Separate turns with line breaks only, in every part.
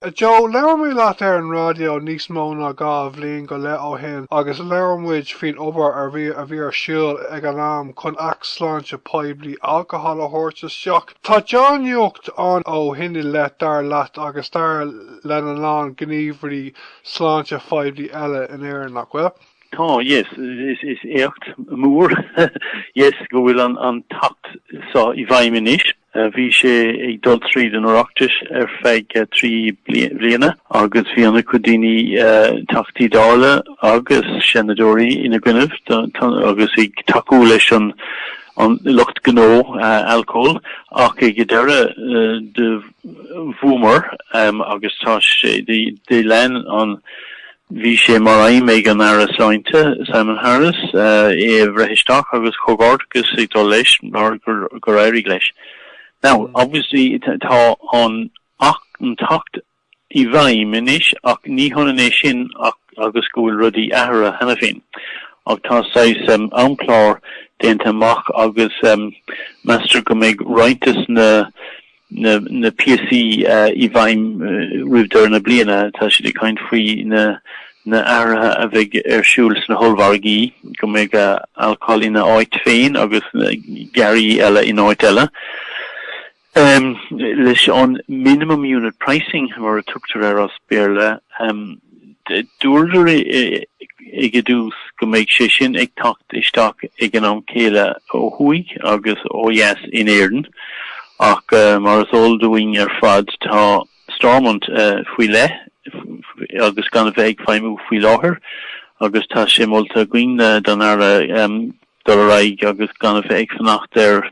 A Joe, labhair mé leat ar an raidió níos mó ná dhá bhliain go leith ó shin agus labhair muid faoin obair a bhí ar siúl ag an am chun Acht Sláinte Poiblí Alcohol a thabhairt isteach. Tá deá-nuacht ann ó shin i leith dar leat agus dar lena lán gníomhairí sláinte phoiblí eile in Éirinn, nach bhfuil? Tá,
yes, is éacht mór, yes, go bhfuil an tAcht so i bhfeidhm anois. Bhí sé ag dul tríd an Oireachtais ar feadh trí bliana agus bhí ana-chuid daoine, Teachtaí Dála agus Seanadóirí ina gcoinnibh agus ag tacú leis an lucht gnó alcóil ach ag an deireadh do bhuamar agus tá sé, do lean an Bhí sé mar aidhm ag an Aire Sláinte, Simon Harris, é a bhreith isteach agus comhghairdeachas ag dul leis mar gur éirigh leis. Now, obviously tá an tAcht i bhfeidhm anois ach ní hionann é sin agus go bhfuil rudaí athraithe cheana féin ach tá saghas amchlár déanta amach agus meastar go mbeidh roinnt de na na píosaí i bhfeidhm roimh deireadh na bliana, tá siad ag caint faoi na athruithe a bheidh ar siúl sna hollmhargaí, go mbeidh alcól ina áit féin agus earraí eile in áit eile, leis an minimum unit pricing mar a tugtar air as Béarla. Dúradar ag an dtús go mbeidh sé sin ag teacht isteach ag an am céanna ó thuaidh agus ó dheas in Éirinn ach mar is eol dúinn ar fad tá Stormont faoi leith agus gan a bheith ag feidhmiú faoi láthair agus tá sé molta againn don Aire dul ar aghaidh agus gan a bheith ag fanacht ar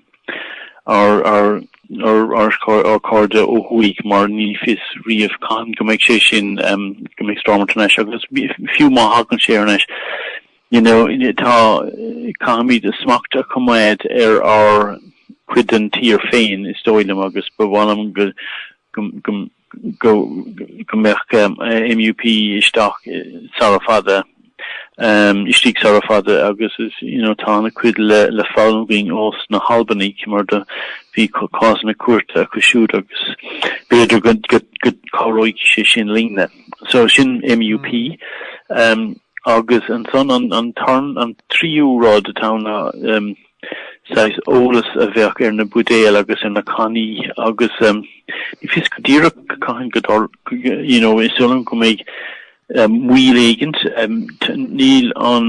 ár gcairde ó thuaidh mar ní fios riamh cathain go mbeidh sé sin, go mbeidh Stormont ar n-ais agus fiú má thagann sé ar n-ais, you know, tá, caithfimid smacht a choimeád ar ár cuid den tír féin is dóigh liom agus ba mhaith liom go go mbeadh MUP isteach sara fada, istigh sara fada agus tá ana-chuid le foghlaim againn ós na hAlbanaigh mar do bhí cásanna cúirte acu siúd agus b'fhéidir go cabhróidh sé sin linne. So sin MUP agus ansan an tríú rud atá ann ná Saghas eolas a bheadh ar na buidéil agus ar na cannaí agus ní fios go díreach cathain go dtarlódh, you know, is eol dom go mbeidh moill éigint, níl an,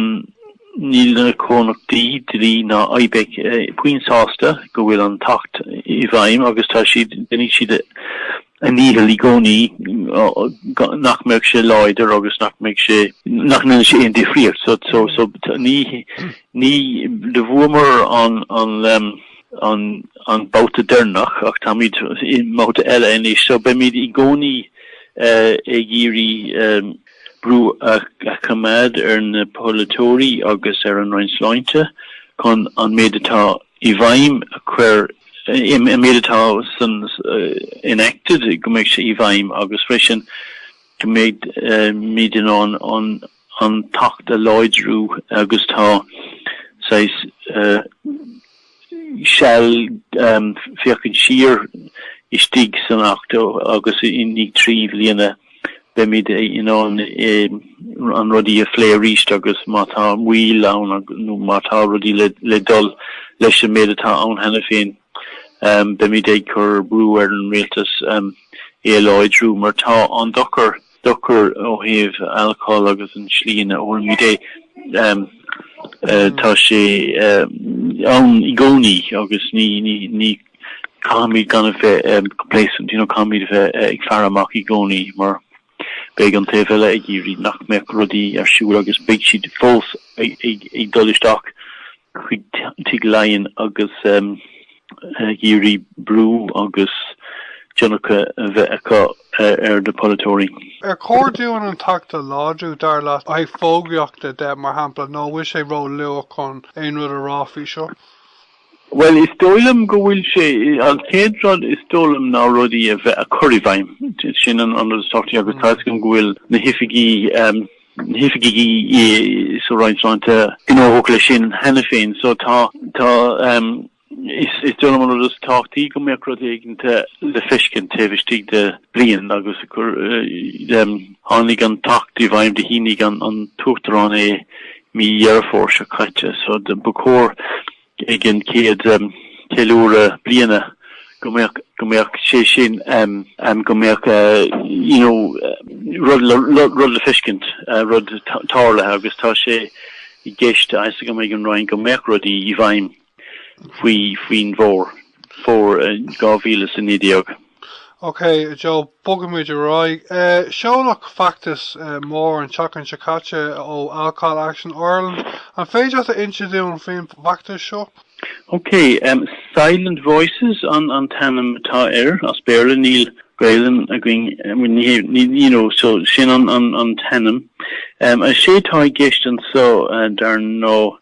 níl na comhlachtaí dí ná Ibec puinn sásta go bhfuil an tAcht i bhfeidhm agus tá siad, déanfaidh siad a ndícheall i gcónaí nach mbeadh sé láidir agus nach mbeadh sé, nach ndéanfadh sé aon difríocht. So, so, ní, ní, do bhuamar an, an, an babhta deireanach ach táimid i mbabhta eile anois. So, beimid i gcónaí ag iarraidh brú a choimeád ar na polaiteoirí agus ar an Roinn Sláinte chun an méid atá i bhfeidhm a chur, an méid atá san enacted go mbeidh sé i bhfeidhm agus freisin go mbeimid in ann an tAcht a láidriú agus tá saghas seal féachaint siar istigh san Acht agus i ndiaidh trí bhliana beimid in ann na rudaí a phlé arís agus má tá moill ann nó má tá rudaí le dul leis an méid atá ann cheana féin beimid ag cur brú ar an rialtas é a láidriú mar tá an dochar dochar ó thaobh alcól agus an tslí ina n-ólaimid é tá sé ann i gcónaí agus ní Caithfimid gan a bheith complacent, you know, caithfimid a bheith ag faire amach i gcónaí mar beidh an taobh eile ag iarraidh nach mbeadh rudaí ar siúl agus beidh siad fós ag dul isteach chuig Tigh Laighean agus ag iarraidh brú agus tionchar a bheith acu ar na polaiteoirí. Ar chóir dúinn
an tAcht a láidriú, dar leat, ó thaobh fógraíochta de, mar shampla, nó an bhfuil sé róluath chun aon rud a rá faoi seo?
Bhuel, is dóigh liom go bhfuil sé, an chéad rud is dóigh liom ná rudaí a bheith, a chur i bhfeidhm, sin an rud is tábhachtaí agus tá fhios agam go bhfuil na hoifigí, na hoifigí sa Roinn Sláinte gnóthach leis sin cheana féin, so tá, tá, is, is dóigh liom an rud is tábhachtaí go mbeadh rud éigint le feiscint taobh istigh de bhliain agus gur, tháinig an tAcht i bhfeidhm, do shínigh an tUachtarán é Mí Dheireadh Fómhair seo caite, so ba chóir ag an chéad cheiliúradh bliana go mbeadh, go mbeadh sé sin ann, go mbeadh you know rud le, rud le feiscint, rud tarlaithe agus tá sé i gceist, tá fhios agam ag an Roinn go mbeadh rudaí i bhfeidhm. faoin bhfómhar, fómhar dhá mhíle is
a naoi déag. Ok Joe, bogaimid ar aghaidh. Seoladh feachtas mór an tseachtain seo caite ó Alcohol Action Ireland. An féidir leat a insint dúinn faoin bhfeachtas seo?
Ok, Silent Voices an t-ainm atá air, as Béarla, níl Gaelainn againn, you know, so sin an t-ainm. Is é atá i gceist ansan, dar ndóigh,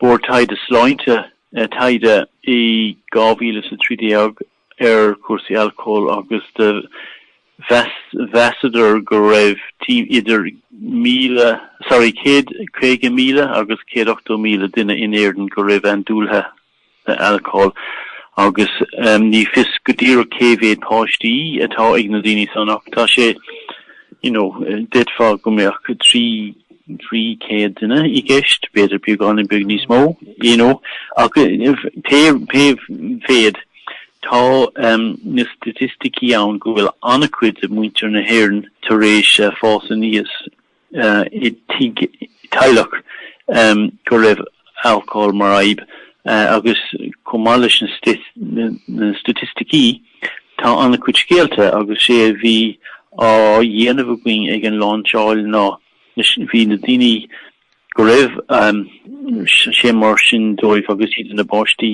Bord Taighde Sláinte taighde in 2013 ar chúrsaí alcóil agus do mheasadar go raibh tim idir 1000 sorry 150,000 agus 180,000 duine in Éirinn go raibh andúil acu in alcól agus ní fios go díreach cé mhéad páistí atá ag na daoine san ach tá sé, you know, déarfá go mbeadh trí, trí céad duine i gceist, b'fhéidir beagáinín beag níos mó, you know, ach pé, pé mhéad, tá na staitisticí ann go bhfuil an-chuid de mhuintir na hÉireann tar éis fás aníos. i dteaghlach go raibh alcól mar fhadhb agus chomh maith leis na staitisticí tá an-chuid scéalta agus sé a bhí á dhéanamh againn ag an láinseáil ná bhí na daoine go raibh sé mar sin dóibh agus iad ina bpáistí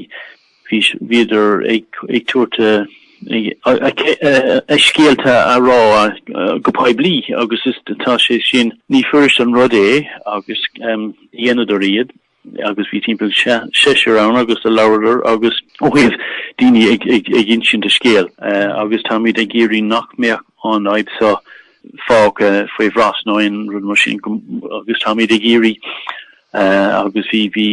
Bhíodar ag tabhairt a scéalta a rá go poiblí agus tá sé sin, ní fuirist an rud é agus dhéanadar iad agus bhí timpeall seisear ann agus a labhradar agus ó thaobh daoine ag insint a scéal agus táimid ag iarraidh nach mbeadh an fhadhb seo fágtha faoi bhrat nó aon rud mar sin agus táimid ag iarraidh agus bhí bhí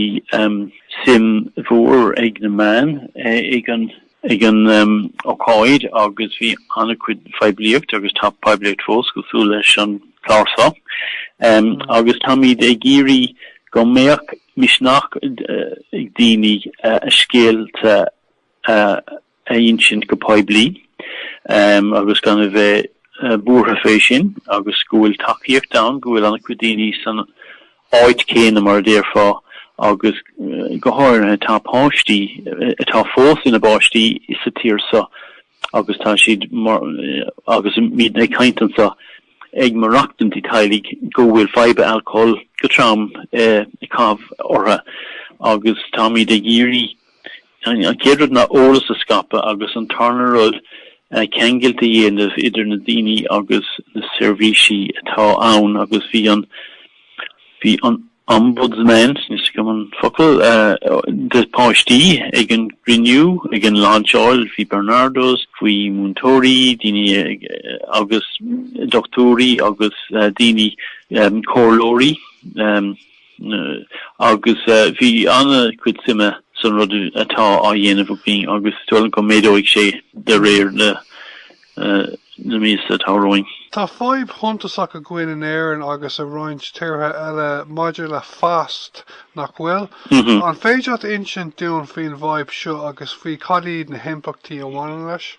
suim mhór ag na meáin ag an ag an ócáid agus bhí an-chuid poiblíocht agus tá poiblíocht fós cosúil leis an clár seo agus táimid ag iarraidh go mbeadh misneach ag daoine a scéalta a insint go poiblí agus gan a bheith buartha fé sin agus go bhfuil tacaíocht ann, go bhfuil an-chuid daoine san áit céanna mar a déarfá agus go háirithe tá páistí, atá fós ina bpáistí sa tír so agus tá siad mar agus muid ag caint anso ag maireachtaint i dteaghlaigh go bhfuil fadhb an alcóil go trom ag caitheamh ortha agus táimid ag iarraidh An chéad rud ná eolas a scaipeadh agus an tarna rud ceangailt a dhéanamh idir na daoine agus na seirbhísí atá ann agus bhí an bhí an Ombudsman, n'fheadar an focal, do pháistí ag an gcruinniú, ag an láinseáil, bhí Barnardos, bhí múinteoirí, daoine agus dochtúirí agus daoine comhairleoirí. agus bhí ana chuid suime san rud atá á dhéanamh againn agus is dóigh liom go méadóidh sé de réir na míosa atá romhainn. Tá fadhb
shuntasach againn in Éirinn agus i roinnt tíortha eile maidir le FASD, nach bhfuil? An féidir leat insint dúinn faoin bhfadhb seo agus faoi cad iad na himpleachtaí a bhaineann leis?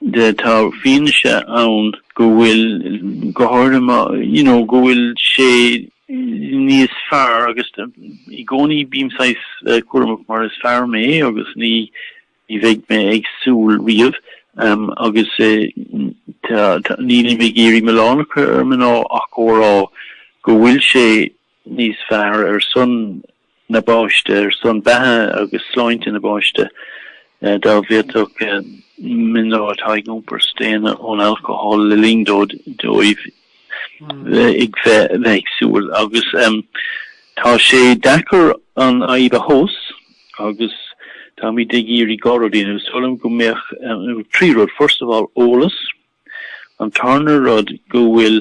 de, tá fianaise ann go bhfuil go háirithe, you know, go bhfuil sé níos fearr agus i gcónaí bím saghas cúramach mar is fear mé agus ní bheidh mé ag súil riamh agus nílim ag iarraidh milleán a chur ar mná ach a rá go bhfuil sé níos fearr ar son na bpáiste ar son beatha agus sláinte na bpáiste dá bhféadfadh mná atá ag iompar staonadh ón alcól le linn dóibh dóibh bheith bheith ag súil agus tá sé deacair an fhadhb a thomhas agus táimid ag iarraidh dhá rud a dhéanamh is dóigh liom go mbeadh trí rud first of all eolas An tarna rud go bhfuil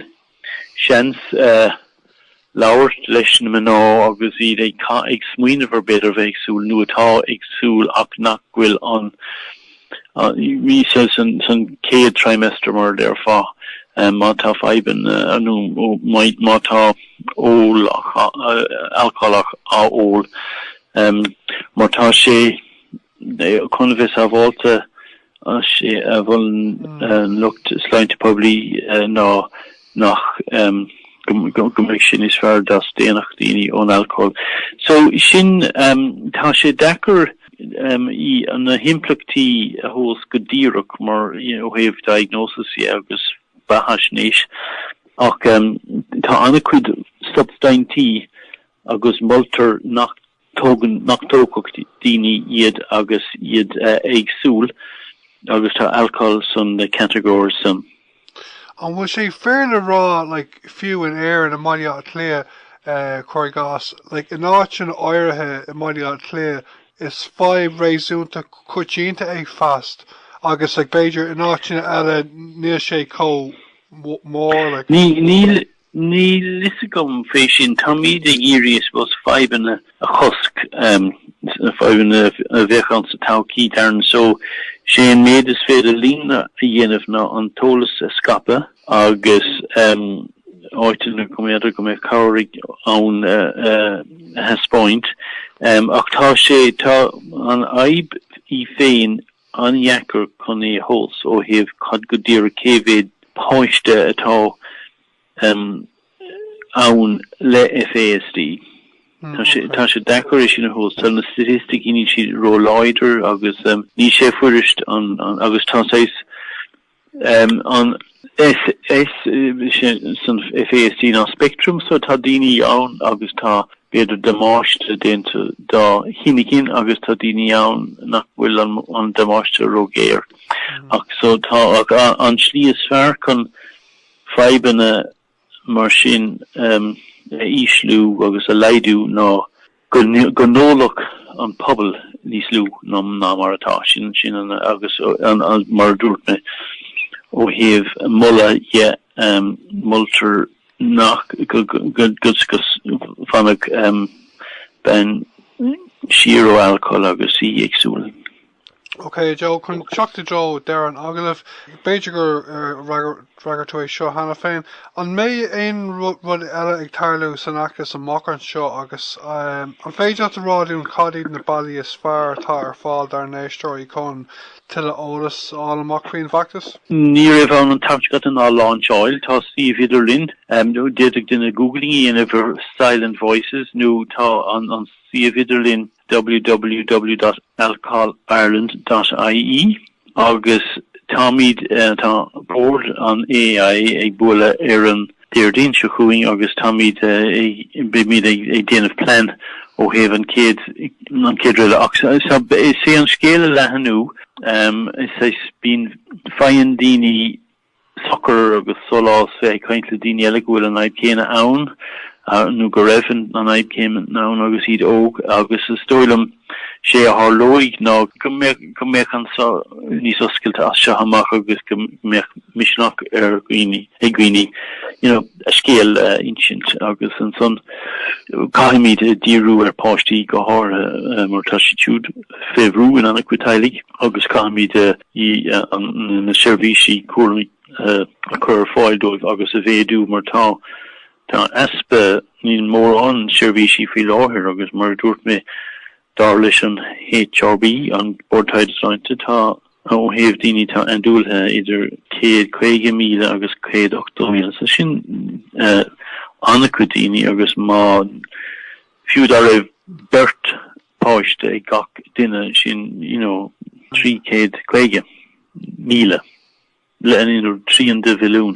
seans labhairt leis na mná agus iad ag smaoineamh ar b'fhéidir bheith ag súil nó atá ag súil ach nach bhfuil ann san chéad trimester mar a déarfá, má tá fadhbanna nó má tá ól alcólach á ól mar tá sé. Chun a bheith sábháilte, sé a mholann an lucht sláinte poiblí ná nach go mbeadh sé níos fearr dá staonfadh daoine ón alcól. So sin tá sé deacair í na himpleachtaí a thomhas go díreach mar ó thaobh diagnosis dhe agus beathaisnéis ach tá ana-chuid substaintí agus moltar nach Tógann nach dtógfadh daoine iad agus iad ag súil agus tá alcól san na categories san.
An bhfuil sé fair le rá like fiú in Éirinn i mBaile Átha Cliath eh cuir i gcás like in áiteanna áirithe i mBaile Átha Cliath is fadhb réasúnta coitianta é FASD agus like b'fhéidir in áiteanna eile níl sé chomh mór like. Níl
Níl fhios agam fé sin. Táimíd ag iarraidh I suppose fadhbanna a chosc, na fadhbanna a bheadh ann sa todhchaí dar ndóigh so sé an méid is féidir linn a dhéanamh ná an t-eolas a scaipeadh agus áiteanna go mb'fhéidir go mbeadh cabhair ann a thaispeáint ach tá sé tá an fhadhb í féin an-dheacair chun é a thomhas ó thaobh cad go díreach cé mhéad páiste atá ann le FASD. Tá sé deacair é sin a thomhas tá na staitisticí níl siad róláidir agus níl sé fuirist agus tá FASD ná speictream, so tá daoine ann agus tá b'fhéidir damáiste déanta dá hinchinn agus tá daoine ann nach bhfuil an damáiste róghéar ach so tá an slí is fearr chun fadhbanna mar sin, a ísliú agus a laghdú ná go n-ólfadh an pobal níos lú ná mar atá. Sin an, agus mar a dúirt mé, ó thaobh moladh de, moltar nach, go bhfanfadh bean siar ó alcól agus í ag súil.
Ok Joe, chun teacht i dtreo deireadh an agallaimh, b'fhéidir gur fhreagair tú é seo cheana féin, an mbeidh aon rud eile ag tarlú san fheachtas amach anseo agus an féidir leat a rá dúinn cad iad na bealaí is fearr atá ar fáil dár n-éisteoirí chun tuilleadh eolais a fháil amach faoin bhfeachtas? Ní raibh ann
an tseachtain seo caite ach an lainseáil. Tá suíomh idirlín, d'fhéadfadh duine googling a dhéanamh ar Silent Voices nó tá an suíomh idirlín www.alcoholireland.ie agus táimid, tá Bord an AAI ag bualadh ar an Déardaoin seo chugainn agus táimid ag, beimid ag déanamh plean ó thaobh an chéad, an chéad rud eile. Ach is é an scéal a leathnú, is bíonn, faigheann daoine sochar agus sólás bheith ag caint le daoine eile go bhfuil an fhadhb chéanna ann nó go raibh an fhadhb céanna ann agus iad óg agus is dóigh liom sé a tharlóidh ná go mbeadh an níos oscailte as seo amach agus go mbeadh misneach ar dhaoine ag daoine you know a scéal a insint agus ansan caithfimid díriú ar páistí go háirithe mar tá siad siúd fé bhrú in ana-chuid teaghlaigh agus caithfimid ii, na seirbhísí cúraim a chur ar fáil dóibh agus a mhéadú mar tá tá easpa, níl mórán seirbhísí faoi láthair agus mar a dúirt mé, dar leis an HRB, an Bord Taighde Sláinte, tá ó thaobh daoine atá andúilithe idir 150,000 agus 180,000 so sin ana-chuid daoine agus má fiú dá raibh beirt páiste ag gach duine sin you know 350,000 leanaí nó trian de mhilliún.